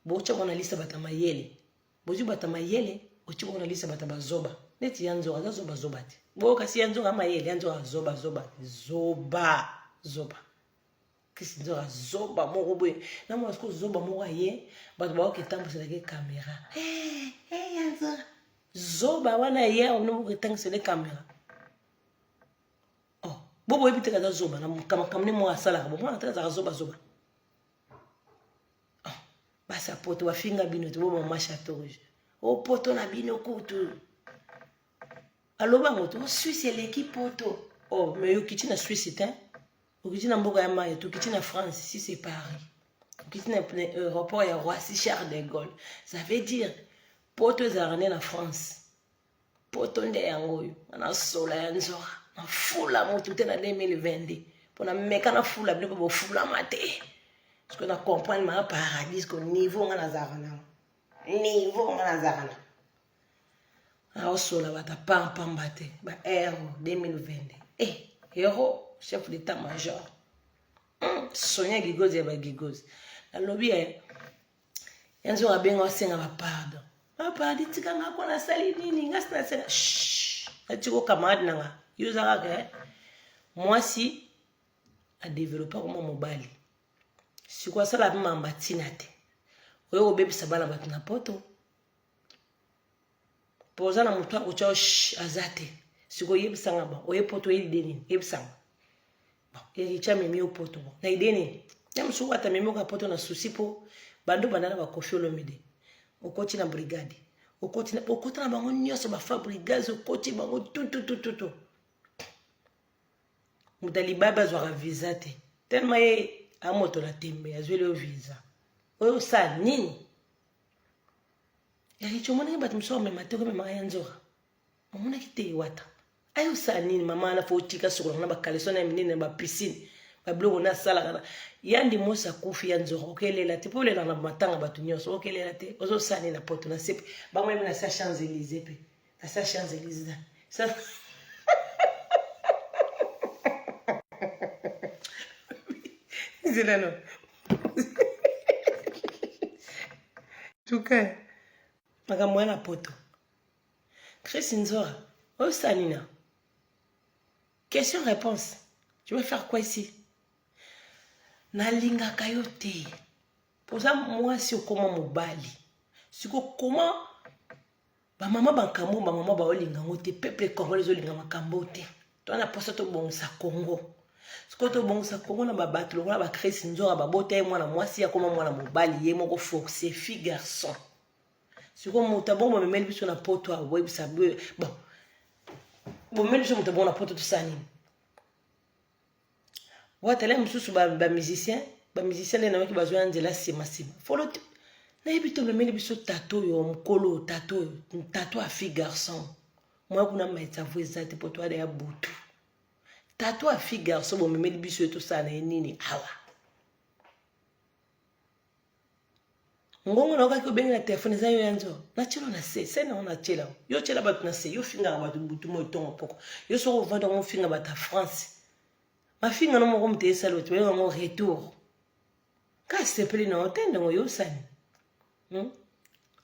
bocha mwana lisa bata mayele bozwi bata mayele ochi mwana lisa bata bazoba neti ya nzonga aza zoba zoba te bo kasi ya nzonga mayele ya nzonga zoba zoba zoba zoba kisi nzonga zoba moko boye na mwana sikoyo zoba moko aye bato baoki etambuselaki kamera eh, eh, ya nzonga zoba wana ye aonomoki etangisele kamera oh, bo boyebi te kaza zoba na makambo ne moko asalaka bomwana te kazaka zoba zoba oh, basi ya poto bafinga bino te bomama chateau rouge o oh, poto na bino kutu aloba yango te swisse eleki poto oh mais okiti na swisse te okiti na mboka ya maye tokiti na france si c'est paris okiti na aéroport ya roissy charles de gaulle ça veut dire poto ezalaka nde na france poto nde yango oyo nga na sola ya nzora na fula motu te na 2022 mpo na meka na fula bino mpe bofulama te parceke na comprendre maa paradis ko niveau nga nazalaka nango niveau nga nazalaka nango aosola bato apampamba te ba ero 2022 e hero chef d'état major hmm, sonia gigozi ya bagigozi nalobi ya eh, ya nzongo abenga osenga bapardon bapardi ah, tika nga kona asali nini nga sinaseka natiko camarade na nga yo oza kaka eh? mwasi adevelopa koma mobali siko asala mpe mamba ntina te oyo kobebisa bana bato na poto po oza na moto akotya aza te sikoyo yebisanga ba oye poto oye lide nini yebisanga ericha memi yo poto bo na ide nini ya mosuku ata memi oka poto na susi po bando banda na bakofi olomide okoti na brigade okoti na okota na bango nyonso bafabrigase okoti bango tututututu moto ya libabe azwaka visa te telema ye amoto na tembe azweli yo visa oyo osala nini ya richo omonaki bato mosusu amema te okomemaka ya nzora omonaki te iwata ayo osala nini mama wana fo otika sokolaka na bakaleso na ya minene na bapisine babiloko na asalaka na yandi mosi akufi ya nzora okelela te mpo olelaka na matanga bato nyonso okelela te ozosala nini na poto na sepe bango yemi na sa champs elysee mpe na sa champs elise na nzela no tuka makambo wana poto chris nzora osanina question réponse je vais faire quoi ici nalingaka yo te oza mwasi okoma mobali siko koma Ba mama ba kambo ba mama ba olinga ngo te peuple congolais zo linga makambo te. To na posa to bongisa Congo. Siko to bongisa Congo na ba bato lokola ba Chris Nzora ba bota ye mwana mwasi ya koma mwana mobali ye moko forcer fille garçon. Siko moto abongo bamemeli biso na poto awa boyebisa bon bomemeli biso moto abongo na poto tosala nini watala mosusu bamusicien bamusicien nde nayoki bazwa ya nzela nsima nsima folo te nayebi to omemeli biso tato oyo mokolo tato oyo tato ya fille garçon moya kuna maitavo eza te po toada ya butu tato ya fille garçon bomemeli biso ye tosala na ye nini awa ngongo na okaki obenge na telefone eza yo ya nzo natyelo na se se nango natyela yo tyela bato na se yo fingaka bato butu moi ntongo poko yo soki ovanda yango ofinga bato ya france mafinga no moko moto esali oyo toyeba yango retour ka asepeli na yo te ndongo yosani hmm?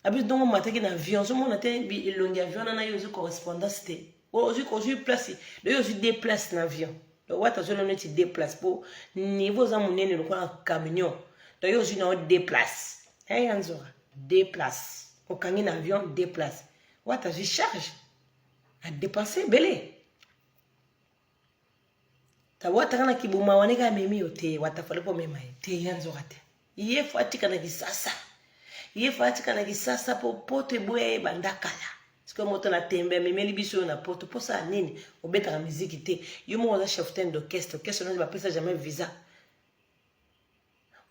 abi ndongo omataki na avion ozomona te elongi avion wana yo ozwi correspondance te ozwi place loyo ozwi de place na avion donc wata azwi lono neti de place mpo niveau oza monene lokola camion donc yo ozwi na yo de place eya nzoka de place okangi na avion de place wata azwi charge adepense ebele tawataka na kibuma wane ka amemi yo te wata fale mpo omema ye te ya nzoka te ye fo atika na kisasa ye fo atika na kisasa mpo poto eboya ye banda kala sikoyo moto na tembe amemeli biso oyo na poto mposala nini obetaka miziki te yo moko oza cheftain d'orchestre orchestre nani bapesa jamais visa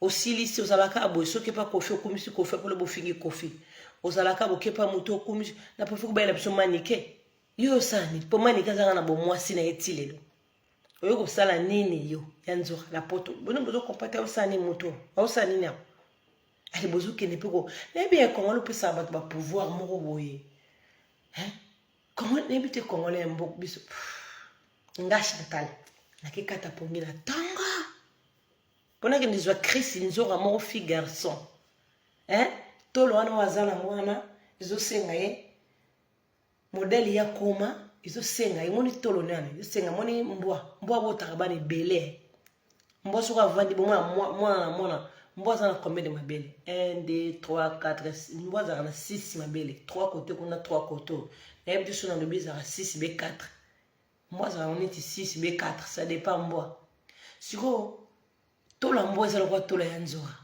osilisi ozalaka boye soki epa kofi okumisi kofi apolo bofingi kofi ozalaka bokepa moto okumisi na profi kobayela biso manike yo osala nini mpo manike azanga na bomwasi na ye ti lelo oyo kosala nini yo ya nzoka na poto bino bozokompate osala nini moto osala nini yango ale bozokende mpe ko nayebi ya kongo lopesaka bato bapouvoir moko boye kongo nayebi te kongo na mboka biso nga chantal nakekata pongi na ntongo mpo nakende zwa chris nzoka moko fi garçon eh? tolo wana oyo aza nango wana ezosenga ye modele ya koma ezosenga ye moni tolo nani ezosenga moni mbwa mbwa abotaka bana ebele mbwa soko avandi bomwana mwana na mwana mbwa aza na combien de mabele 1 2 3 4 mbwa azalaka na 6 mabele 3 kote kuna 3 kote oyo nayebi te so nalobi ezalaka 6 be 4 mbwa azalaka neti 6 be 4 ça dépend mbwa sikoyo tola mbwa eza lokola tola ya nzoka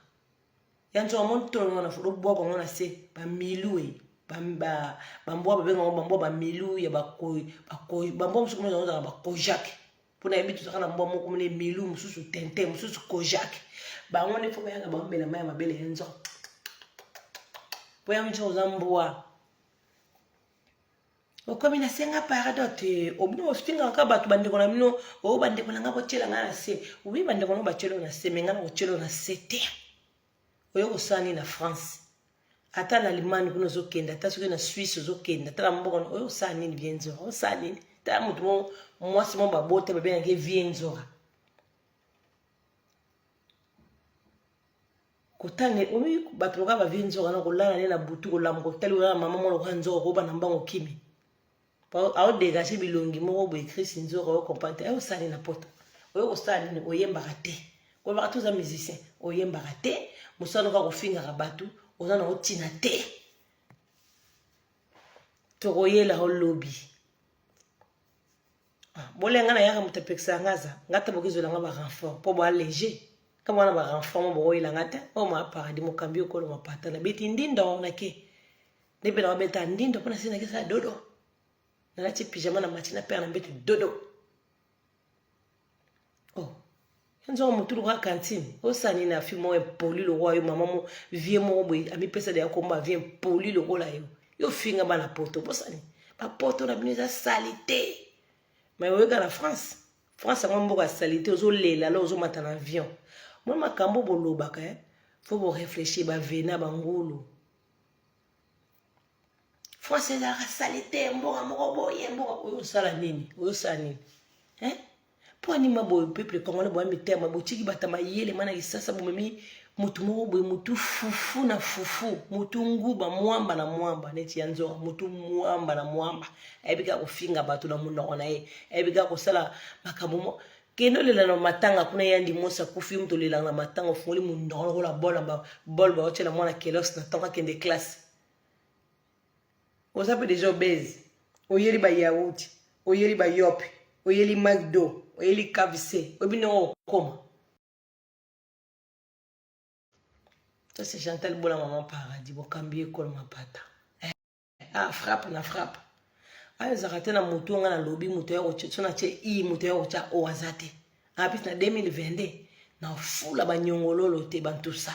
ya nzoka moni tola ngo na foto bwaka ngo na se bamilu e bambwa babenga ngo bambwa bamilu ya bakoi bakoi bambwa mosuku mozo ozala bakojake mpo nayebi tozaka na mbwa moko mone milu mosusu tente mosusu kojake bango nde mpo bayaka bango mela mai ya mabele ya nzoka mpo yango nzoka oza mbwa okomi na senga pardon te obino ostingaka kaka bato bandeko na bino o oh, bandeko na ngai botyela ngai na se wi bandeko na batyelo na se me ngai na kotyelo na se te oyo kosala nini na france ata na allemagne kuna ozokende ata soki na suisse ozokende ata na mboka oyo osala nini vie nzora osala nini ta moto mo mwasi mo babota babengaki vie nzora kotanga omi bato lokola bavie nzoka na kolala ne na butu kolamuka otali kolala mama mwa lokola nzoka okoba na mbango kimi aodegage bilongi moko boye krisi nzoka oyo comprendre te osali na poto oyo kosala nini oyembaka te kolobaka te oza musicien oyembaka te mosala noka kofingaka bato oza na otina te tokoyela olobi Ah, bolenga na yaka moto apekisaka nga aza nga ata bokezwela nga barenfort mpo boa léger kama wana barenfort mo bokoyela nga te oyo ma paradis mokambi okolo mapata nabeti ndindo nake nde mpe nakobeta ndindo mpo nasi nakesa dodo nalati pyjama na mati na pere na mbetu dodo oh nzongo motu lokola cantine osani na fi moko impoli lokola yo mama mo vie moko boye amipesa deya komba vie impoli lokola yo yo finga bana poto bosani bapoto na bino eza salite mai oyeka na france france yango mboka ya salite ozolela la ozomata na avion mwa makambo bolobaka eh? fo boreflechir bavena bangulu france ezalaka salite mboka moko boye mboka oyo osala nini oyosala nini eh? mpo anima boye peuple congolais boya mitema botiki bata mayele mana lisasa bomemi motu moko boye motu fufu na fufu motu nguba mwamba na mwamba neti ya nzoka motu mwamba na mwamba ayebi kaka kofinga bato na monoko na ye ayebi kaka kosala makambo mo kende olela na matanga kuna yandi mwasi akufi moto olelaka na matanga ofungoli monoko lokola bol bol baotyela mwana kelos na ntango akende classe oza mpe deja obese oyeli bayauti oyeli bayope oyeli magdo oyeli kavise oyebi ndenge okokoma ça c'est chantal bola maman paradis bokambi ekolo mapata eh, ah, frappe na frappe ayo ezalaka te na motu nga nalobi moto ya kotya so natye i moto ya kotya o aza te apesi na 2022 na fula banyongololo te bantusa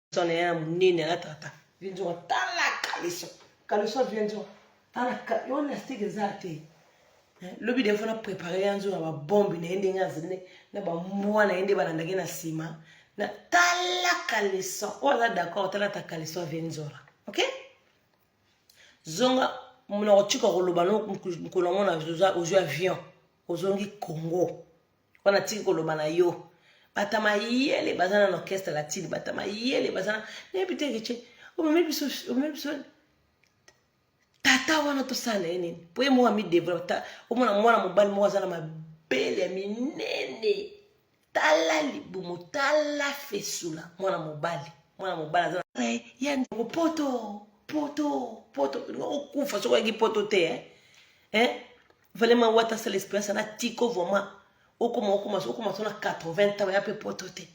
kaleso na ye ya monene alataka ta vienzora tala kaleso kaleso ya vienzora tala yo elastique eza te lobi defo na prépare ya nzora babombe na ye ndenge azali na bambwa na ye nde balandaki na nsima na tala kaleso oyo aza d'accord tala ta kaleso ya vienzora ok zonga monoko tika koloba no mokolo yango na ozwi avion ozongi congo wana tiki koloba na yo bata mayele baza na orchestre latine bata mayele baza na nayebi te kece omemi biso omemi biso tata wana tosala ye nini mpo ye moko amidevelope omona mwana mobali moko aza na mabele ya minene tala libumu tala fesula mwana mobali mwana mobali aza eh, ya ndeko poto poto poto okokufa soki oyaki poto te eh? Eh? vraiment wata sala experience na tiko vraiment okoma okoma okoma so na 80 ans ya mpe poto te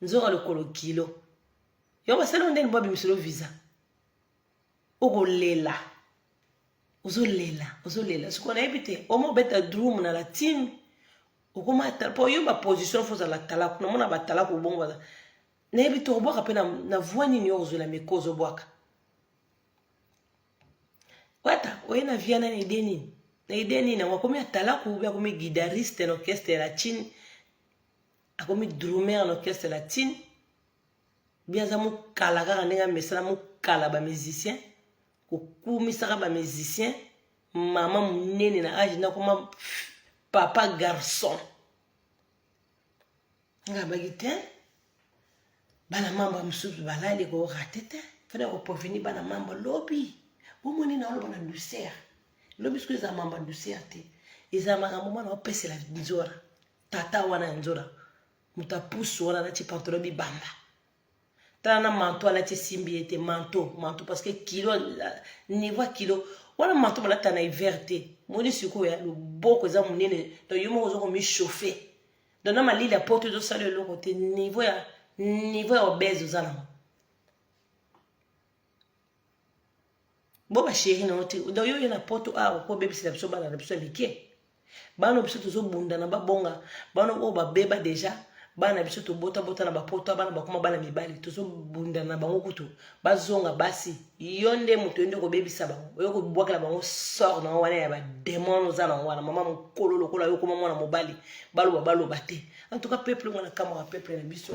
nzoka lokolo kilo yo basali yo ndeni mpo abimiselo visa okolela ozolela ozolela sikoyo nayebi te oma obeta drum na la team okoma mpo yo baposition fo ozala talaku namona batalaku obongo baza nayebi te okobwaka mpe na voi nini yo ozwela meko ozobwaka wata oye na viana na ide nini na ide nini yango akomi atalaku ube akomi guitariste na orchestre la chine akomi drumer na orchestre la chine bi aza mokala kaka ndenge amesana mokala bamusicien kokumisaka bamusicien mama monene na age nakoma papa garçon nga baki te bana mamba mosusu balali korate te fana koproveni bana mamba lobi bomoni na oloba na douceur lobi soki eza mamba douceur te eza makambo mwana opesela nzora tata wana ya nzora moto apusu wana nati pantolo bibamba tala na manto alati esimbi ye te manto manto parce que kilo niveau kilo wana manto balata na hiver te moni sikoyo ya loboko eza monene donc yo moko oza komichauffe donc na malili ya poto ezosala eloko te niveau ya niveau ya obese oza nango bo ba chéri na yo te donc yo oye na poto awa mpo obebisela biso bana na biso ya mike bana biso tozobunda na babonga bana oyo babeba deja bana biso tobotabota na bapoto bana bakoma bana mibali tozobunda na bango kutu bazonga basi yo nde moto yo nde okobebisa bango oyo kobwakela bango sort na wana ya bademon oza nango wana mama mokolo lokola yo okoma mwana mobali baloba baloba te en tout cas peuple mwana kamwa peuple na biso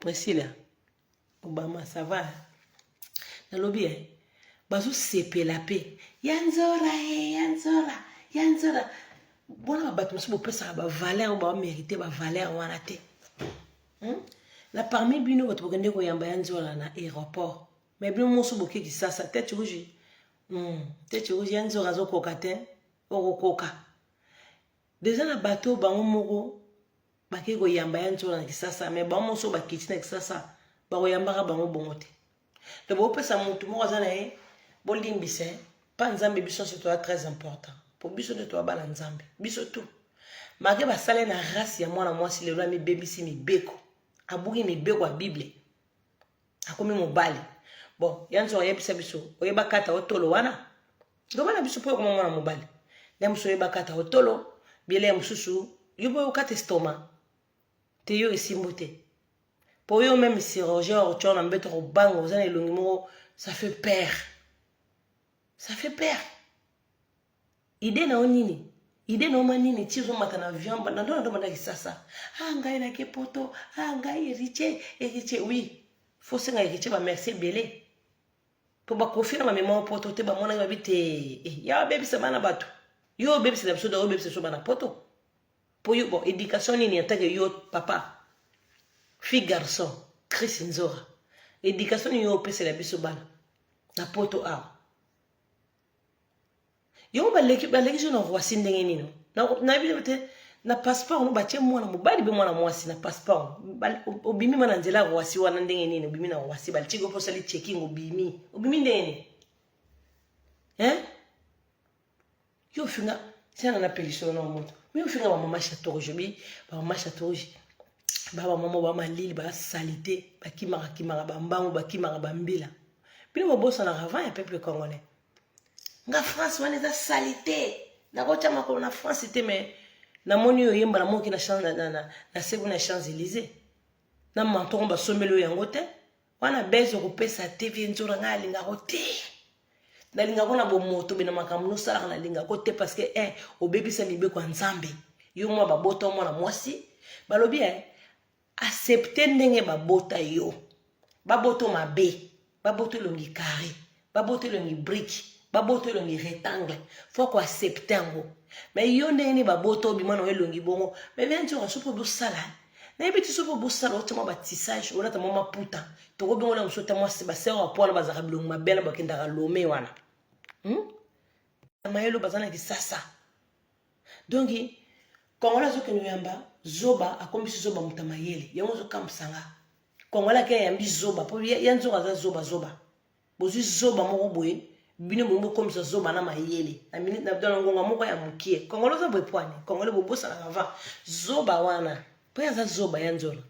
Priscilla Obama ça va nalobi eh bazosepela mpe ya nzora e eh, ya nzora ya nzora bona bato mosusu bopesaka bavaleur oyo bamerite bavaleur wana te hmm? na parmi bino bato bokende koyamba ya nzora na aéroport mai bino mosu boke kisasa tete rouge hmm, tete rouge ya nzora azokoka te okokoka deja na bato bango moko bakei koyamba ya nzola na kisasa me bango moso bakiti na kisasa bakoyambaka bango bongo te to bopesa motu moko aza na ye bolimbisa eh. mpa nzambe biso nyonso toza très important mpo biso nde toza bana nzambe biso tu make basale na race ya mwana mwasi lelo amibebisi mibeko abuki mibeko ya bible akomi mobali bon ya nzongo ayebisa biso oyeba kata otolo wana loba na biso mpo okoma mwana mobali nde mosusu oyeba kata otolo biele ya mosusu yo boye okata estoma te yo esimbo te mpo yo meme chirurgien ortio na mbeto kobanga oza na elongi moko ça fait peur ça fait peur idee na yo nini ide na oma nini ti ozomata na avion na ndo na ndo banda kisasa a ah, ngai nake poto a ah, ngai eritie eritie oui fo senga eritie bamerci ebele mpo bakofi na bamema o poto te bamonaki babi te eh, ya babebisa bana bato yo obebisela biso da obebisa biso bana poto mpo yo bon éducation nini atake yo papa fille garçon chris nzora éducation nini yo opesela biso bana na poto awa yango baleki balekisi na voici ndenge nini nayebi na te na passeport no batie mwana mobali mpe mwana mwasi na passeport obimi ma na nzela ya roasi wana ndenge nini obimi na roasi balitiki mpo osali checking obimi obimi ndenge nini hein yo ofinga tiana na pelisolo na moto mi ofinga bamama chatoge obi bamama chatoge babamama bamalili basalite bakimaka kimaka bambangu bakimaka bambila bino bobosanaka avant ya peuple congolais nga france wana eza salite nakotya makolo na france te mais namoni oyo oyemba na moki na sebu na champs élysée na mantongo basombeli oyo yango te wana bese okopesa te vie nzora ngai alingako te nalingako na bomoto be na makambo nosalaka nalingako te parce que eh, obebisa mibeko ya nzambe yo mwa babota mwana mwasi balobi eh, accepte ndenge babota yo baboto mabe baboto elongi carré baboto elongi brike baboto elongi rectangle fo koaccepte yango me yo ndenge nini baboto obima na yo elongi bongo me bia nti okaso mpo bosala nayebi ti so mpo bosala otya mwa batissage olata mwa maputa tokobengona mosu ata mwasi basere ya po wana bazalaka bilongi mabe na bakendaka lome wana hmm? mayelo baza na kisasa donc congolais azokende oyamba zoba akomisi zoba moto ya mayele yango ozokamwisa nga congolais ake ayambi zoba mpo ya nzoka aza zoba zoba bozwi zoba moko boye bino bongo bokomisa zoba na mayele na ngonga moko ya mokie congolais oza boye pwani congolais bobosanaka va zoba wana mpo ye aza zoba ya nzola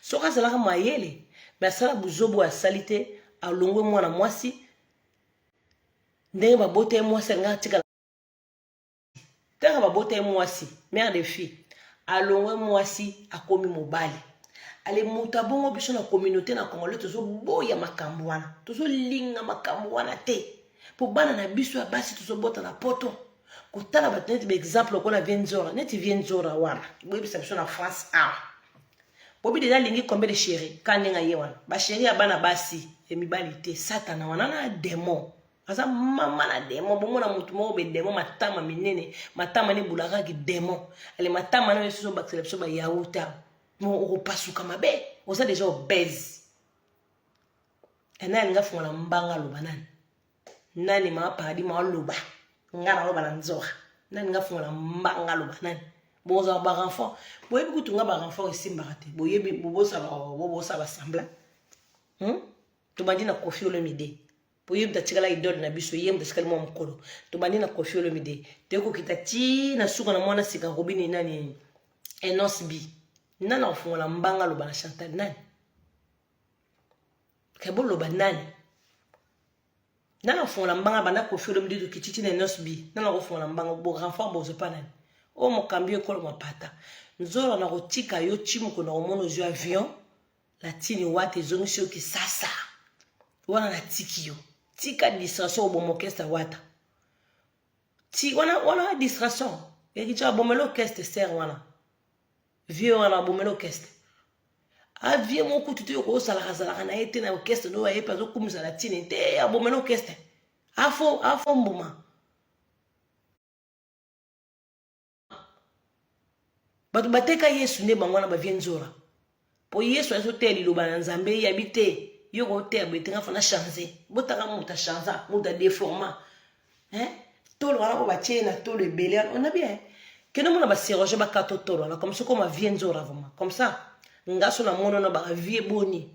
soki azalaka mayele me asala buzoba oyo asali te alongwe mwana mwasi ndenge babota ye mwasi alinga atikala kaka babota ye mwasi mère de fille alongwe mwasi akomi mobali ale moto abongo biso na communauté na congolais tozoboya makambo wana tozolinga makambo wana te mpo bana na biso ya basi tozobota na poto kotala bato neti baexemple lokola vie nzora neti vie nzora wana boyebisa biso na france awa bobi deja alingi kombe de chéri ka ndenge aye wana basheri ya bana basi ya mibali te satana wana na demon aza mama na demo bomona motu moko be demo matama minene matama ne bulakaki demo ale matama nayo esusu obakisela biso bayauta mo okopasuka mabe oza deja obese ena alinga funga na mbanga aloba nani nani maa paradis maa loba nga naloba na nzora nani nga funga na mbanga aloba nani bozala barenfort boyebi kutu nga barenfort esimbaka te boyebi bobosala basembla hmm? tobandi na kofi olemide po ye moto atikala idole na biso ye moto atikali mwa mokolo tobandi na kofi olomide toye kokita ti na suka na mwana sika robini nani enos bi nani akofungola mbanga aloba na chantal nani ke boloba nani nani akofungola mbanga banda kofi olomide tokiti ti na enos bi nani akofungola mbanga bo renfort bozo pa nani oyo mokambi ekolo mapata nzolo nakotika yo ti mokolo na komona ozwi avion latini wata ezongisi yo kisasa wana natiki yo tika distraction oboma orchestre wata ti wana wana distraction yakica abomela orchestre ser wana vieux wana abomela orchestre avie moko kutu te yoko osalaka zalaka na ye te na orchestre no ayepe azokumisa latini te abomela orchestre afo afo mbuma bato bateka yesu nde bango wana bavie nzora mpo yesu azoteya liloba na nzambe yabi te yo koteya boye te nga fana change botanga moto achangea moto adeforma tolo wana oyo batye na tolo ebele wana ona bien kende mona baserage bakata otolo wana comme soki oma vie nzora vraimen comme ça ngaso na mono na baka vie boni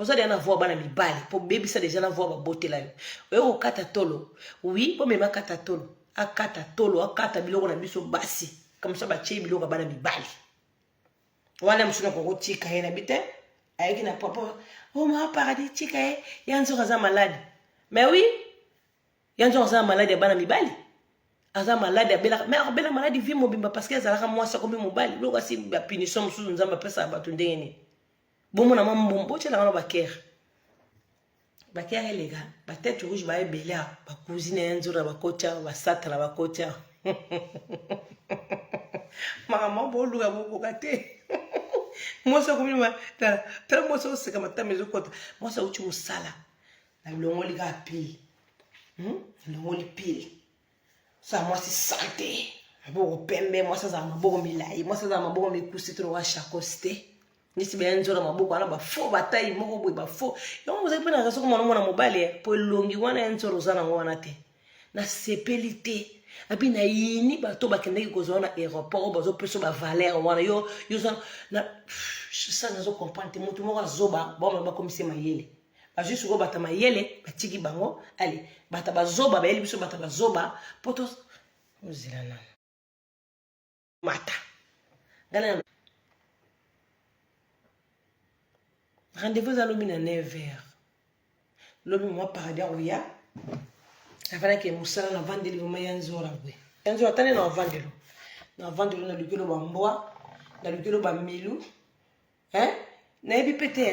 oza deja na voi bana mibali mpo bebisa deja na voi babotela yo oye kokata tolo wi bomema kata tolo akata tolo akata biloko na biso basi kamisa batye biloko ya bana mibali wana mosusu nakoki kotika ye na bi te ayaki na papa oma oh, paradis tika ye ya nzoka aza maladi me wi ya nzoka aza na maladi ya bana mibali aza maladi abelaka me akobela maladi vi mobimba parceke azalaka mwasi akomi mobali biloko asi bapunition mosusu nzambe apesaka bato ndenge nini bomona mwa mbuma botyela wana bakere bakere eleka batete rouge ba ebele awa bakuzine ya nzora bakoti awa basatana bakoti awa makambo boluka bokoka te mwasi akomi tala tala mwasi oseka matama ezokota mwasi auti mosala nalongoli kaka pile nalongoli hmm? pile sa mwasi sante maboko pembe mwasi azala maboko milai mwasi azala maboko mikusi to lokola chakos te neti baya nzola maboko wana bafo batai moko boye bafo yango ozali mpe naza soko mwana mwana mobali eh, mpo elongi wana ya nzola oza nango wana te nasepeli te abi nayini bato bakendaki kozwa wana aéroport oyo bazopesa bavaler wana yo yo sa nazo comprendre te motu moko azoba baomana bakomisi mayele bazwi sikoyo bato mayele batiki bango ale bato bazoba bayeli biso bato bazoba mpo to ozela nano mata ngai na rendez-vous eza lobi na 9 heures lobi mwa paradis akoya afandaki mosala na vandeli vraimen ya nzora bwe ya nzora atani na vandelo na vandelo na lukelo bambwa na lukelo bamilu nayebi pe te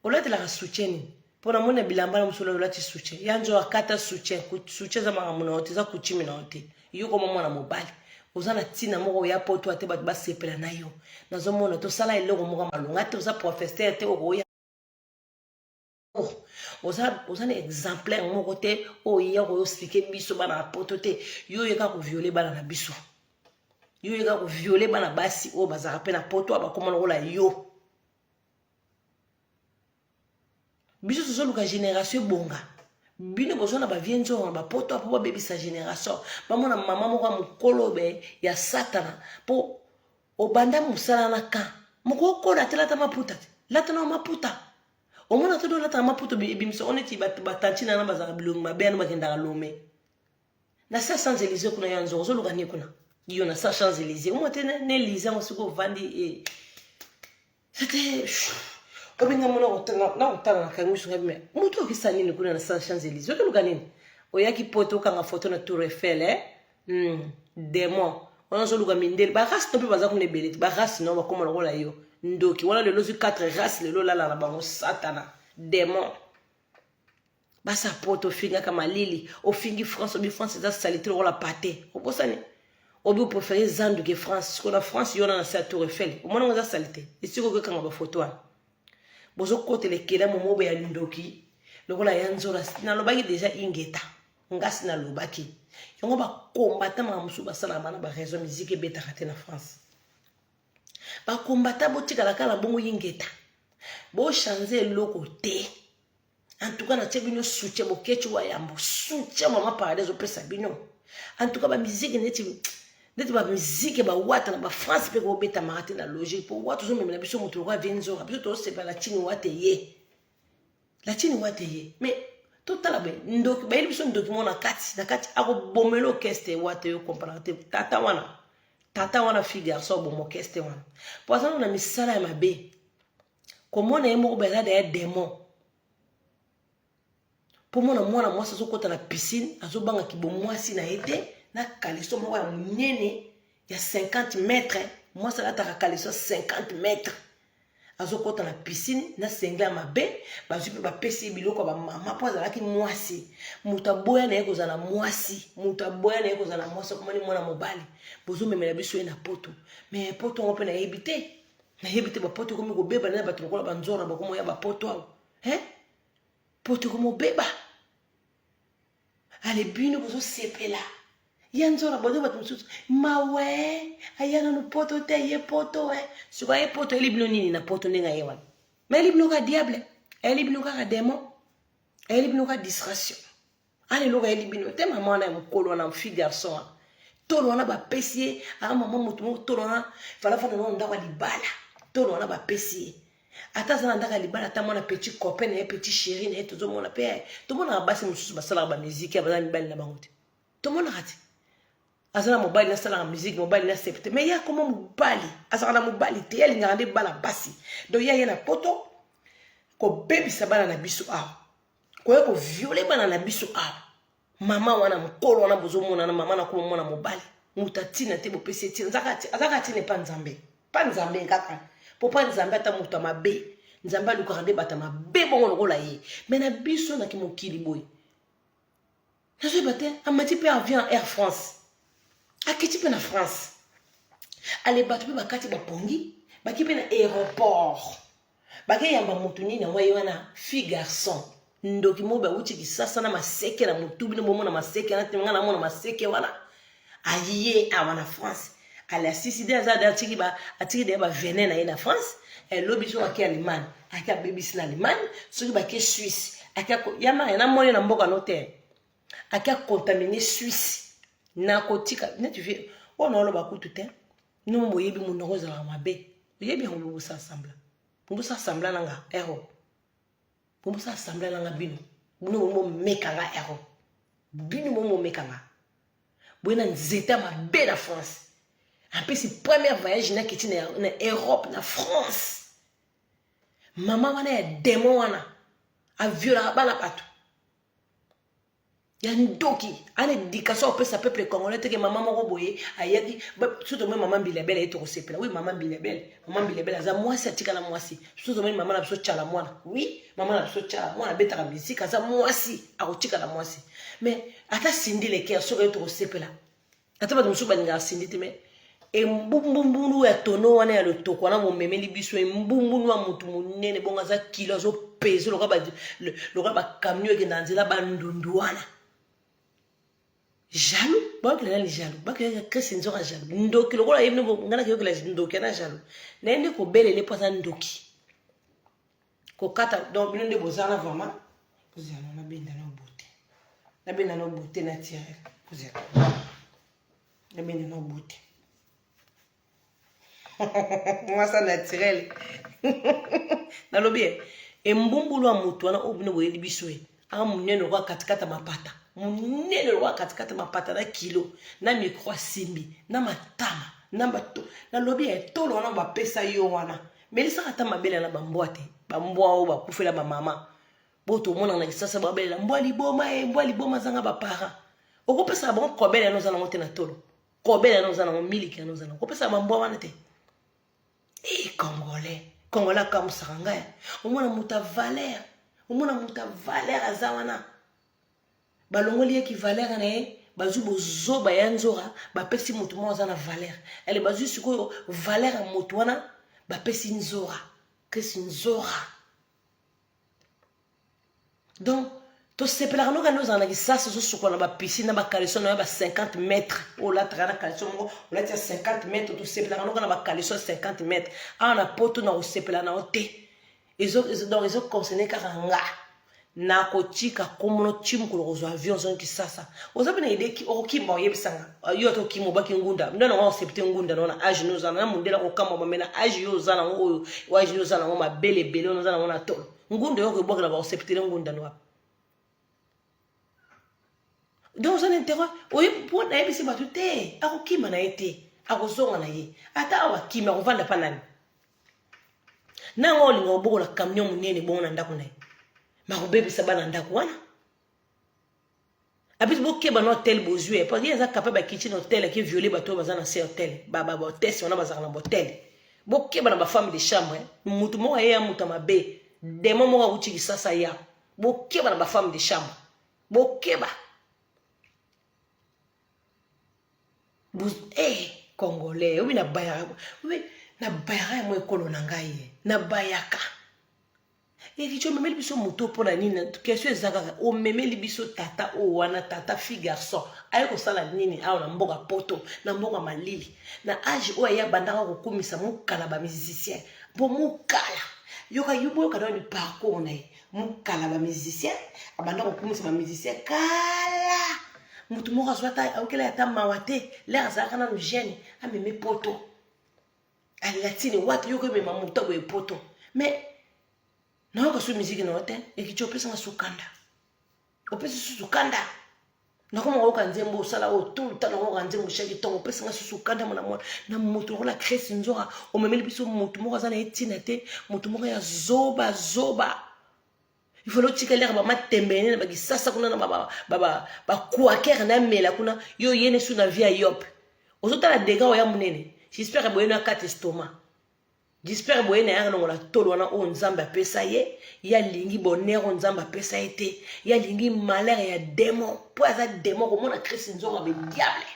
olatelaka soutien nini mpo namoni na bilamba na mosolo olati soutien ya nzo akata soutien soutien eza makambo na yo te eza kutime na yo te yo koma mwana mobali oza na ntina moko ya poto ate bato basepela na yo nazomona tosala eloko moko malonga te oza professeur te okoya oza, oza na exemplaire moko te oyo ya koyoslike biso bana ya poto te yo oyeka koviole bana na biso yo oyeka koviole bana basi oyo bazalaka mpe na poto bakoma lokola yo biso tozoluka génération ebonga bino boza na bavie nzongo na bapoto mpo babebisa génération bamona mama moko ya mokolobe ya satana mpo obanda mosala na kan moko okola te lata maputa te lata na maputa omona te dolata na maputa ebimisa o neti batantina na bazala bilongi mabe yana bakendaka lome na sa sans elise kuna ya nzongo ozoluka nini kuna yo na sa sans elise omwa te na elise yango soki ovandi e sete obenga mona nakotala na kangi misunga bima moto okisa nini kuna na sa sans elise ozoluka nini oyaki poto okanga foto na tour efele eh? hmm, demon wana ozoluka mindele barace no mpe baza kuna ebele te barace no bakoma lokola yo ndoki wana lelo ozwi 4 race lelo olala na bango satana demon basa poto ofingaka malili ofingi france obi france eza salite lokola pate obosani obi oprefere zandu ke france siko na france yona na se ya tour efele omona ngo eza salite esiko okekanga bafoto wana bozokotela ekela momobo ya ndoki lokola ya nzola nalobaki deja ingeta ngasi nalobaki yango bakombata maka mosusu basalaka bana baraison miziki ebetaka te na france bakombata botikalaka na bongo ingeta bochange eloko te en tout cas natie bino soutien bokeci wa yambo soutien mama paradis ezopesa bino en tout cas bamiziki neti neti bamiziki bawata na bafrance mpe kobetamaka te na logique mpo wata ozomemela biso moto lokola vie nzoka biso tosepela na tini wate ye na tini wate ye mais totala be ndoki bayeli biso ndoki moko na kati na kati akobomela okeste wate yo kompanaka te tata wana tata wana fille garçon oboma okeste wana mpo azana na misala ya mabe komona ye moko baza daya demon mpo mona mwana mwasi azokɔta na piscine azobanga kibomwasi na ye te na kaleso moko ya monene ya 50 mètre mwasi alataka kaleso 50 mètre azokɔta na piscine na sengle ya mabe bazwi mpe bapesi ye biloko ya bamama mpo azalaki mwasi moto aboya na ye kozala na mwasi moto aboya na ye kozala na mwasi akomani mwana mobali bozomemela biso ye na poto me poto yango mpe nayebi te nayebi te bapoto ekomi kobeba na bato lokola banzora bakomo ya bapoto awa e poto ekomobeba ale bino bozosepela ye nzora bozo bato mosusu mawe aya nanu poto te ye poto e sikoyo aye poto ayeli bino nini na poto ndenge aye wana mayeli bino kaka diable ayeli bino kaka demon ayeli bino kaka distraction Ana eloko ayebi bino te mama wana ya mokolo wana fi garçon wana tolo wana bapesi ye aa mama moto moko tolo wana falafana nao ndako ya libala tolo wana bapesi ye ata aza na ndako ya libala ata mwana petit copain na ye petit chéri na ye tozomona mpe eh, tomonaka basi mosusu basalaka bamiziki ya baza mibali na bango te tomonaka te aza na mobali nasalaka miziki mobali na septe mai ye akoma mobali azalaka na mobali te ye alingaka nde bana basi donc ye aye na poto kobebisa bana na biso awa koya ko viole bana na biso awa mama wana mokolo wana bozomonana mama na kuma mwana mobali moto atina te bopesi etina azaka atina epa nzambe pa nzambe kaka mpo pa nzambe ata moto ya mabe nzambe alukaka nde bato ya mabe bongo lokola ye me na biso na kimokili boye nazoyeba te amati mpe avion ya air france akiti mpe na france ale bato mpe bakati bapongi baki mpe na aéroport bakeyamba motu nini yango ye wana fille garçon ndoki moko bauti kisasa na maseke na motu bino bomona maseke wana te ngai namona maseke wana aye awa na france alasisi de aza atiki ba atiki de ba vene na ye na france eh, lobi soki ake allemagne ake abebisi na allemagne soki bake suisse ake ya maya na moni na mboka no te ake akontamine suisse na kotika neti vie oyo naoloba kutu te no boyebi monoko ezalaka mabe oyebi yango bobosasambla bobosasambla na nga ero eh, oh. bomosa assemble nanga bino bino bomo meka nga ero bino bomo meka nga boye na nzete ya mabe na france apesi première voyage nakiti na europe na france mama wana ya demon wana aviolaka bana bato ya ndoki ana éducation opesa peuple congolais teke mama moko boye ayaki biso tomoni mama mbilabele aye tokosepela wi mama mbilabele mama mbilabele aza mwasi atikala mwasi biso tomoni mama na biso tyala mwana wi mama na biso tyala mwana abetaka misika aza mwasi akotikala mwasi mais ata sindi lekeya soki aye tokosepela ata bato mosusu balingaka sindi te mais embumbunu ya tono wana ya lotoko wana momemeli biso embumbunu ya motu monene bongo aza kilo azopese lokola bakamio ekenda nzela bandundu wana jaloux bakela nani jaloux bakela kriste nzoka jaloux ndoki lokola ye ngai nakeyokela ndoki ana jaloux naye nde kobelele mpo aza ndoki kokata donc bino nde bozana vraiment kozala na benda na obote na benda na obote na tirel kozala na benda na obote mwasa naturel nalobi ye embumbulu ya moto wana oyo bino boyebi biso ye aa monene lokola katikata mapata monene lokola katikata mapata na kilo na mikro asimbi na matama na bato nalobi ya etolo wana bapesa yo wana melisaka ata mabele na bambwa te bambwa oyo bakufela bamama bo tomona na kisasa babelela mbwa liboma e mbwa liboma azanga baparent okopesaka bango kobele yana oza nango te na tolo kobele yana oza nango miliki yana oza nango okopesaka bambwa wana te Hey, eh, congolais congolais akamwisaka ngai omona moto ya valeur omona moto ya valeur aza wana balongoli ye kivaleur na ye bazwi bozoba ya nzora bapesi moto moko aza na valeur ele bazwi sikoyo valeur ya moto wana bapesi nzora krisi nzora donc tosepelaka noka nde ozala na kisasa ozosukola na bapisine na bakaleso na yo ba 50 mètre oyo olataka na kaleso moko olati ya 50 mètre tosepelaka noka na bakaleso ya 50 mètre awa na poto na kosepela na yo te donc ezoconcerne kaka nga nakotika komono ti mokolo kozwa avion ozongi kisasa oza mpe na ideki okokimba oyebisanga yo ata okima obaki ngunda nde nango accepte ngunda nango na age nde oza na mondela kokamwa bame na age yo oza nango oyo age nde oza nango mabele ebele ono oza nango na tolo ngunda yo okobwakela baacceptele ngunda no wapi donc oza na interet oye mpo nayebisi bato te akokima na ye te akozonga na ye ata awa akimi akovanda mpa nani nanga olinga obokola camion monene bongo na ndako na ye makobebisa bana ndako wana abeti bokeba na hotel bozwi ye padi aza capable ya kitchen hotel ake viole bato oyo baza na se hotel bahotese wana bazalaka na botel bokeba na bafemme de chambre motu moko aye ya moto ya mabe demo moko awuti kisasa ya bokeba na bafemme de chambre bokeba eh, congolais obi na bayaka obi na bayaka ya mwa ekolo na ngai na bayaka Eric omemeli biso moto mpo na nini question eza kaka omemeli biso tata oyo wana tata fille garçon aye kosala nini awa na mboka poto na mboka malili na age oyo aye abandaka kokumisa mokala ba musicien mpo mokala yoka yo boyoka na ni parcours na ye mokala ba musicien abanda kokumisa ba musicien kala motu moko azwa ata ayokela ata mawa te lere azalaka nanu jeune amemi poto alatine wapi yo komema moto boye poto mais nayoka so miziki na yo te ekici opesanga sukanda opesi susu kanda nakoma koyoka nzembo osala oyo tout le temps nakoyoka nzembo shaki ntongo opesanga susu kanda mona mwana na moto lokola kresi nzora omemeli biso moto moko aza na ye ntina te moto moko ya zoba zoba il faut lotika lere bama tembene na bakisasa kuna na bakuakere na mela kuna yo yene su na vie ya yope ozotala dega oya monene jispere boyene akata estoma jispere boyene ayaka longola tolo wana oyo nzambe apesa ye ye alingi bonere oyo nzambe apesa ye te ye alingi malere ya demon mpo aza demon komona kristi nzonga be diable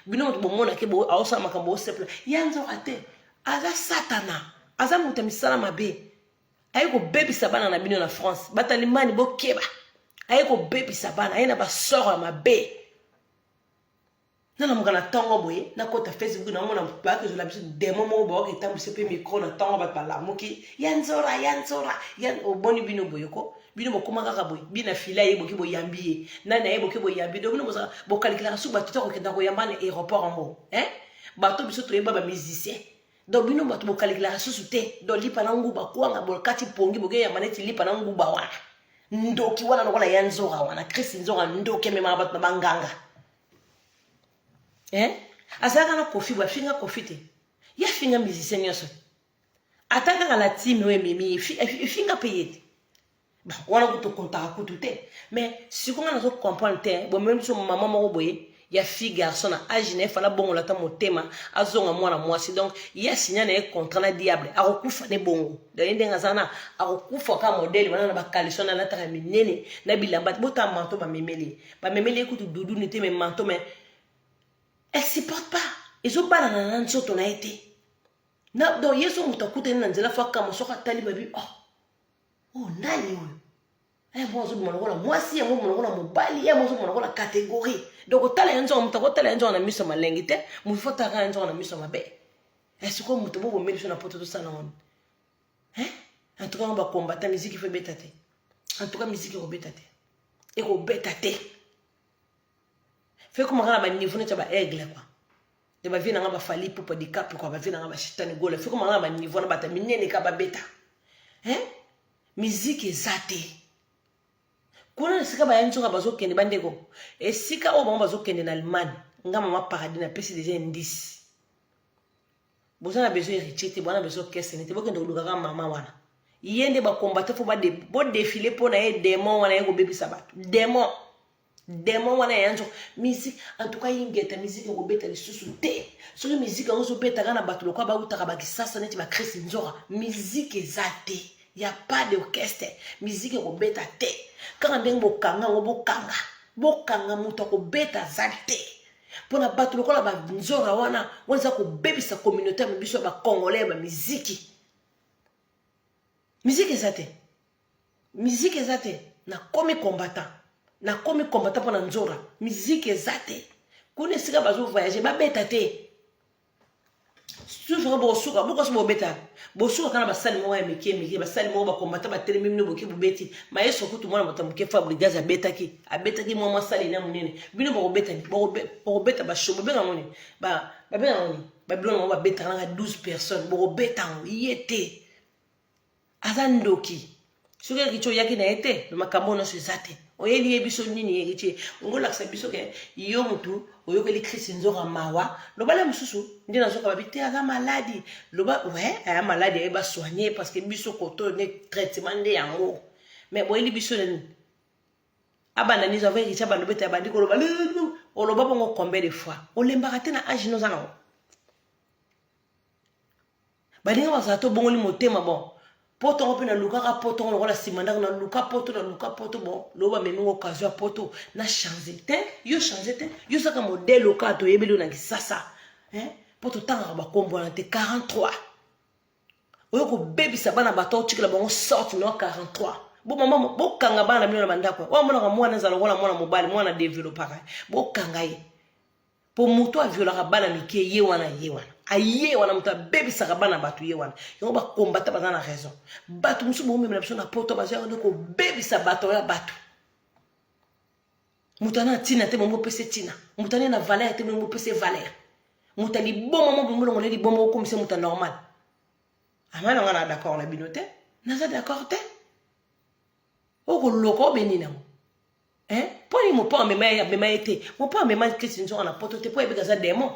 bino moto bomonake aosala makambo osepela ya nzoka te aza satana aza moto ya misala mabe aye kobebisa bana na bino na france batalimani bokeba aye kobebisa bana aye na basoro ya mabe nanamuka na ntongo boye nakota facebook namona bayaka ezola biso demo moko bayoka etambwisi mpe mikro na ntongo bato balamuki ya nzora ya nzora ya oboni bino boye ko bino bokoma kaka boye bino na file ayeboki boyambi ye nani ayeboki boyambi do bino bokalikilaka soki bato te kokenda koyamba na aéroport yango e bato biso toyeba bamusicien donc bino bato bokalekelaka susu te donc lipa na nguba kwanga bokati pongi bokeyamba neti lipa na nguba wana ndoki wana lokola ya nzora wana krist nzora ndoki ememaka bato na banganga eh? azalaka na kofi boye afinga kofi te ye afinga musicien nyonso ata kaka na time oyo ememi efinga mpe ye te wana kutu kontaka kutu te mais siko nga nazo comprendre te bomemi biso mama moko boye ya fille garçon na age na ye fala bongola ata motema azonga mwana mwasi donc ye asinya na ye contrat na diable akokufa ne bongo donc ye ndenge aza na akokufa ka modele wana na bakaliso na alataka minene na bilamba botala manto bamemeli ye bamemeli ye kutu duduni te me manto me elle supporte pas ezobalana na nzoto na ye te donc ye so moto akutani na nzela fo akama soki atali babi oh Oh, nani oyo? Eh, mwa azobima lokola mwasi yango mona lokola mobali ye yango ozomona lokola kategorie donc otala ya nzonga moto akotala ya nzonga na miso malengi te moto fo otalaka ya nzonga na miso mabe esikoyo eh, moto bobomeli biso na poto tosala wana eh? en tout cas ngo bakombata miziki fo ebeta te en tout cas miziki ekobeta te ekobeta te fo ekomaka na baniveau neti ya baaigle kua ya bavie na nga bafali pupa dikapu kwa bavie na nga bashitani gola fiko manga ba niveau na bata minene ka babeta hein miziki eza te kuna esika baya nzoka bazokende bandeko esika oyo bango bazokende na allemagne nga mama paradis napesi deja indice boza na besoin héritier te bwana besoin kesene te bokende kolukaka mama wana ye nde bakombate fo bodefile mpo na ye demon wana ye kobebisa bato demon demon wana ya yanzo musique en tout cas ingeta musique ekobeta lisusu te soki musique yango ozobetaka na bato lokola bautaka bakisasa neti bacris nzora musique eza te ya pas de orchestre musique ekobeta te kaka ndenge bokanga yango bokanga bokanga moto akobeta aza te mpo na bato lokola banzora wana wana eza kobebisa communauté ya biso ya bacongolais ya bamiziki miziki eza te miziki eza te nakomi combattant nakomi combattant mpo na nzora miziki eza te kuna esika bazovoyage babeta te susuka bokosuka bokosi bobeta bosuka kana basali moko ya mike mike basali moko bakombata batelemi bino boke bobeti maestro kutu mwana moto ya moke fabrigas abetaki abetaki mwa mwasali na monene bino bokobeta bokobeta basho bobenga ngo nini babenga ngo nini babilona yango babetaka naka 12 personnes bokobeta yango ye te aza ndoki soki eritie oyaki na ye te me makambo oyo nyonso eza te oyeli ye biso nini eritie ongo olakisa biso ke yo motu oyokeli krisi nzoka mawa loba le mosusu nde nazoka babi te aza maladi loba we aya maladi aye basoigne parce que biso koto ne traitement nde yango me boyeli biso nani abanda nizo ava eritie abanda obeta abandi koloba oloba bongo combien de fois olembaka te na age noza nango baninga bazala to bongoli motema bon poto yango mpe nalukaka poto yango lokola nsima ndako naluka poto naluka poto bon loba memi ngo kazo ya poto na change te yo change te yo saka modele oka toyebeli yo na kisasa mpo totangaka bakombo wana te 43 oyo kobebisa bana bato otikela bango sorte no 43 bomama bokanga bana bino na bandako oyo amonaka mwana ezala lokola mwana mobali mwana developaka bokanga ye po moto aviolaka bana mike ye wana ye wana aye wana moto abebisaka bana bato ye wana yango bakombata baza na raison bato mosusu bokomemela biso na poto baza yango nde kobebisa bato ya bato moto ana ntina te bongo opese ntina moto ane na valeur te bongo opese valeur moto liboma mo bongo longola liboma okomisa moto normal ama nanga na d'accord na bino te naza d'accord te okoloka obenini yango hein mpo nini mopa amema ye amema ye te mopa amema klisi nzonga na poto te mpo ayebeka aza demon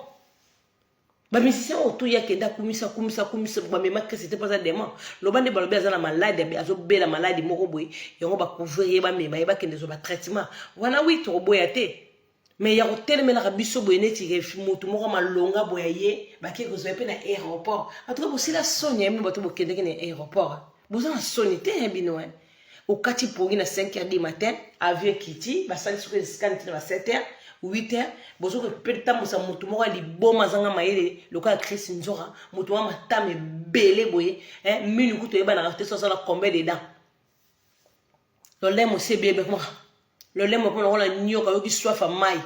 bamisisi oyo to yake nde akumisa akumisa akumisa bamema klisi te mpo aza demon loba nde balobi aza na maladi azobela maladi moko boye yango bacouvrir ye bamema ye bakende zwa batraitement wana wi tokoboya te me ya kotelemelaka biso boye neti motu moko malonga boye ye bake kozwa ye mpe na aéroport antuka bosila soni ya bino bato bokendeki na aéroport boza na soni te ya bino wana eh. okati pongi na 5 heures du matin avion ekiti basali soki escane ntina na 7 heures 8 heures bozoki petambusa motu moko ya liboma azanga mayele lokola chris nzora motu mwa matama ebele boye eh, minu kutu oyebanaka te so azala combien de dents lolemo se bebe kuma lolemo mpo nakola nyoka yoki swafa mai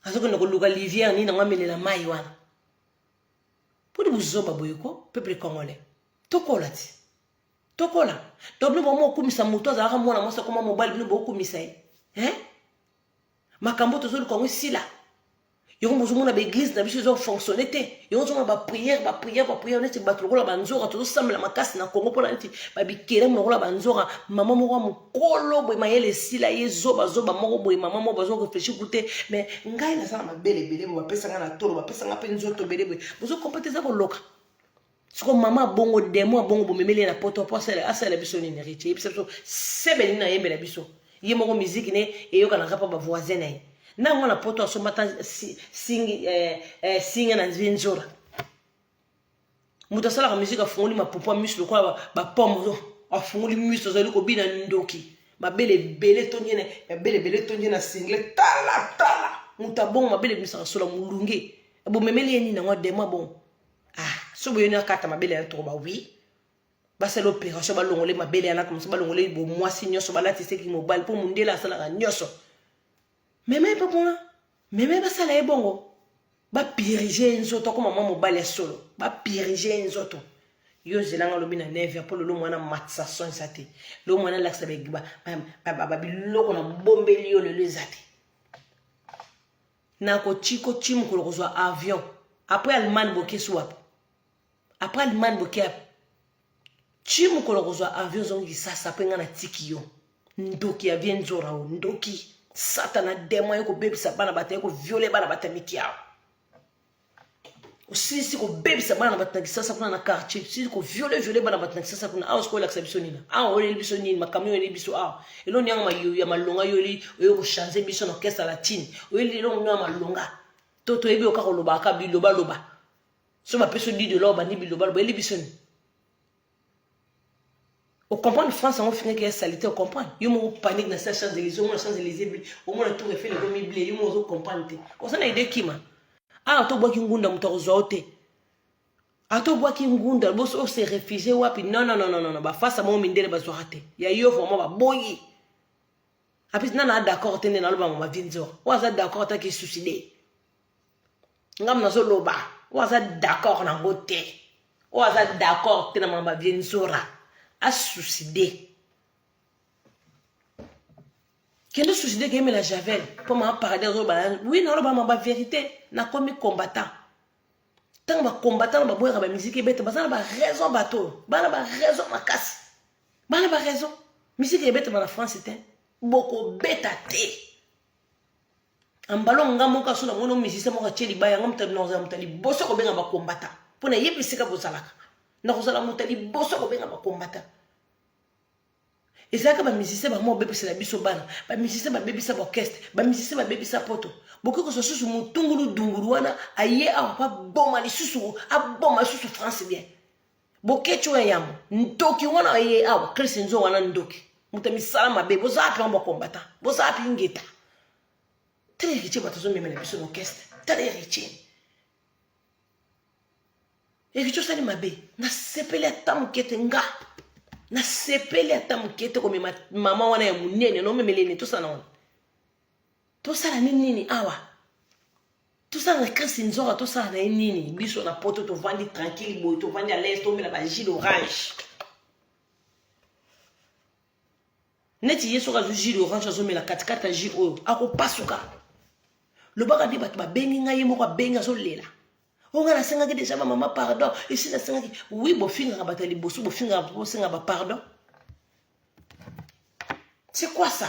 azokende koluka livière nini yango amelela mai wana mpo ndi bozoba boye ko peuple congolais tokola ti tokola to bino bomo okumisa moto azalaka mwana mwasi akoma mobali bino bokumisa ye eh? makambo tozoluka yango esila yango bozomona baeglize na biso ezo fonctionne te yango ozomona bapriere bapriere bapriere neti bato lokola banzoka tozosambela makasi na kongo mpona neti babikelemo lokola banzoka mama moko ya mokolo boye mayele esila ye zobazoba moko boye mama moko bazo reflechi ku te mais ngai naza na mabele ebele boye bapesa ngai na tolo bapesa ngai mpe nzoto ebele boye bozokompa te eza koloka siko mama abongo demo abongo bomemeli ye na poto mpo asalela biso nini riche eyebisa biso sebe nini ayembela biso ye moko miziki ne eyokanaka mpo bavoisin na ye na yango na poto asomba ata singe eh, eh, na nzora moto asalaka miziki afungoli mapupu ya miso lokola bapomme afungoli miso azali kobina ndoki mabele ebele tondi na mabele ebele tondi na single tala tala moto abongo mabele ebimisaka sola molunge ebomemeli ye nini yango adema bongo ah soki boyoni akata mabele ya toko ba oui basala opération balongole mabele ya nako mosu balongole bomwasi nyonso balatiseki mobali mpo mondele asalaka nyonso mema ye mpe kuna mema ye basala ye bongo bapirige ye nzoto akoma mwa mobali ya solo bapirige ye nzoto yo ozelanga olobi na neve mpo lelo mwana matisa son eza te lelo mwana alakisa babiloko na bombeli yo lelo eza te na kochiko chi mokolo kozwa avion après allemagne bokesi wapi après allemagne boke yapi chi mokolo kozwa avion ozongi kisasa mpe ngai natiki yo ndoki ya vie nzora o ndoki satana demon ye kobebisa bana bato ye koviole bana bato ya mitiawa osilisi kobebisa bana na bato na kisasa kuna na quartier osilisi koviole viole bana bato na kisasa kuna awa sikoyo olakisa biso nini awa oyeli biso nini makambo oyeli biso awa eloni yango mayoyo ya malonga yoyeli oyo kochange biso na orchestre latine oyeli elongo nio ya malonga to toyebi oka kolobaka bilobaloba so bapesi odido lao bandi bilobaloba oyeli biso nini O comprendre France yango finga ki ya salite o comprendre yo moko panique na sa champs Elysees omona champs Elysees bi omona tour Eiffel ko mi bleu yo moko ozo comprendre te oza na idée kima ah to bwaki ngunda moto akozwa yo te ato bwaki ngunda boso o se réfugier wapi non non non non non ba face mo mindele bazwaka te ya yo vraiment ba boyi apesi nana d'accord te nde naloba mama vinzor oyo aza d'accord ataki suicide ngam nazoloba oyo aza d'accord nango te oyo aza d'accord te na mama vie nzora asuside kende suside keyemela javel mpo mama paradis azoloba wi naloba mama verité nakomi combattant ntango bacombattant na baboyaka bamiziki ebeta baza na baraison bato oyo bana baraison makasi bana baraison miziki ebetama na france te bokobeta te ambalo nga moko aso na mono misisa moko atie libaya nga moto nakozala moto ya liboso kobenga bakombata mpo na yebi esika bozalaka nakozala moto ya liboso kobenga bakombata ezalaka bamisise bamo babebisela biso bana bamisise babebisa baorkestre bamisise babebisa poto bokoki kozwa susu motungulu dungulu wana aye awa mpo aboma lisusu aboma lisusu france bien boketch oyo ya yambo ntoki wana aye awa chris nzo wana ndoki moto ya misala mabe boza wapi yango bakombata boza wapi ingeta tala eritie bato azomemela biso na orkestre tala eritie eritie osali mabe nasepeli ata moke te nga nasepeli ata moke te komema mama wana ya monene nomemela ene tosala wana tosala nini nini awa tosala kasi nzoka tosala na ye nini biso na poto tovandi tranquille boye tovandi à l'aise tomela ba jus d'orange neti ye soki azwi jus d'orange azomela katikati ya jus oyo akopasuka lobaka nde bato babengi ngai ye moko abengi azolela onga nasengaki deja bamama pardon esi nasengaki wi bofingaka bato ya liboso bofingaka bosenga bapardon c'est quoi ça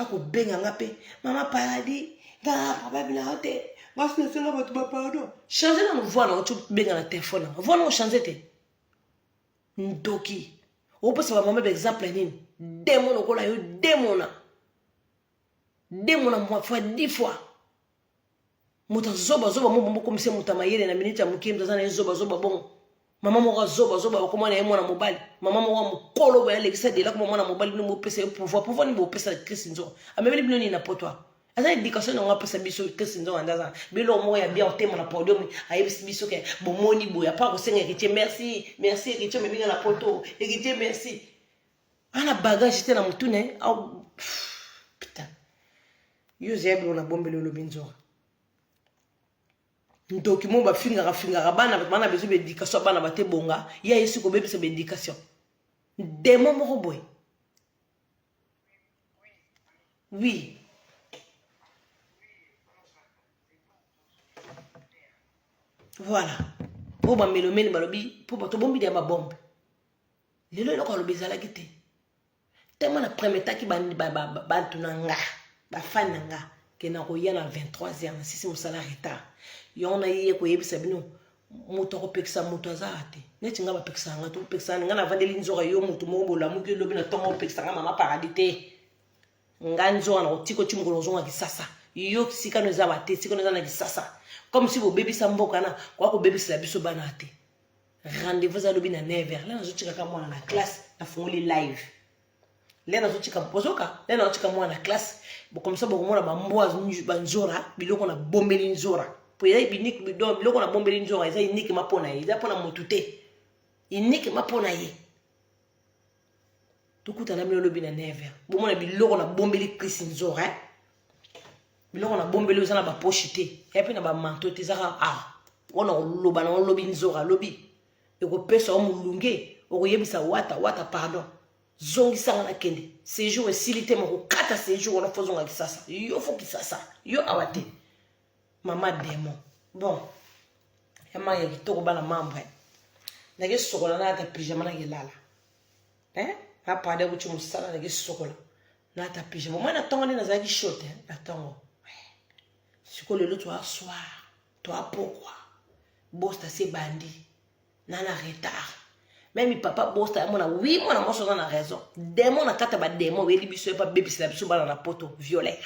akobenga nga mpe mama paradis nga problème na yo te mwasi nasala bato ba pardon change nano voi nango tobenga na telefone yango voi nango change te ndoki opesa bamama baexemple ya nini demo lokola yo demona demona mwa fois dix fois moto zoba zoba mo bombo komise moto mayele na minute ya moke moto aza na ye zoba zoba bongo mama moko azoba zoba bakoma na ye mwana mobali mama moko mokolo boye alekisa dela koma mwana mobali bino bopesa ye pouvoir pouvoir nini bopesa chris nzonga amemeli bino nini na poto awa aza éducation yango apesa biso chris nzonga nde aza biloko moko ya bien otema na podium ayebisi biso ke bomoni boye apart kosenga héritier merci merci héritier omeminga na poto héritier merci ana bagage te na motune putain Yuzi ya biloko na bombeli olobi nzora. Ndoki mo ba fingaka fingaka bana bana bezo ba éducation bana ba te bonga ya yesu ko bebisa ba éducation. Demo moko boye. Oui. Voilà. Oyo bamelomene balobi mpo bato bombi ya babombe lelo eloko alobi ezalaki te tellement na permetaki bantu na nga bafani na nga ke nakoya na 23 heure nasisi mosala retard yango naye koyebisa bino moto akopekisa moto azala te neti ngai bapekisaka ngai to kopekisaka ngai navandeli nzoka yo moto moko bolamuki elobi na ntongo opekisa ngai mama paradis te ngai nzoka na kotiko ti mokolo ozonga kisasa yo sikano eza bate sikano eza na kisasa comme si bobebisa mboka na koya kobebisela biso bana te rendez-vous eza lobi na 9 heures lelo nazotikaka mwana na classe nafungoli live lelo nazotika bozoka lelo nazotika mwana na classe bokomisa bokomona bambwa banzora biloko na bombeli nzora po eza unique bidon biloko na bombeli nzora eza uniquement mpo na ye eza mpo na motu te uniquement mpo na ye tokutana bino lobi na 9h bomona biloko na bombeli Chris Nzora hein? biloko na bombeli oza na ba poche te ya pe na ba manteau te ezaka ah wana oloba na lobi Nzora lobi ekopesa yo molunge okoyebisa wata wata pardon zongisanga na kende séjour esili te makokata séjour wana fozonga kisasa yo fo kisasa yo awa te mama demo bon ya manga ya kitoko bana mambre nake sokola nayata pyjama nake lala eh? napade kuti mosala nake sokola nayata pyjama omoi na ntongo nde nazalaki shote eh? na ntongo eh. sikoyo lelo toa soir toa pokwa bosta se bandi na na retard meme papa bosta yamona wi mwana mwasi oza na raison demon na kati ya bademon oyeli biso ye mpe abebisela biso bana na poto violer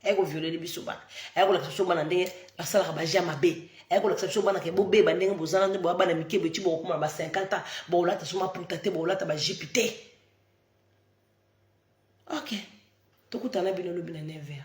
aye kovioleli biso bana aye kolakisa biso bana ndenge basalaka baja mabe aye kolakisa biso bana ke bobeba ndenge bozana nde boya bana mike beti bokokoma na ba 50 ans bokolata so maputa te bokolata bajipe te ok tokutana bino lobi na 9 heure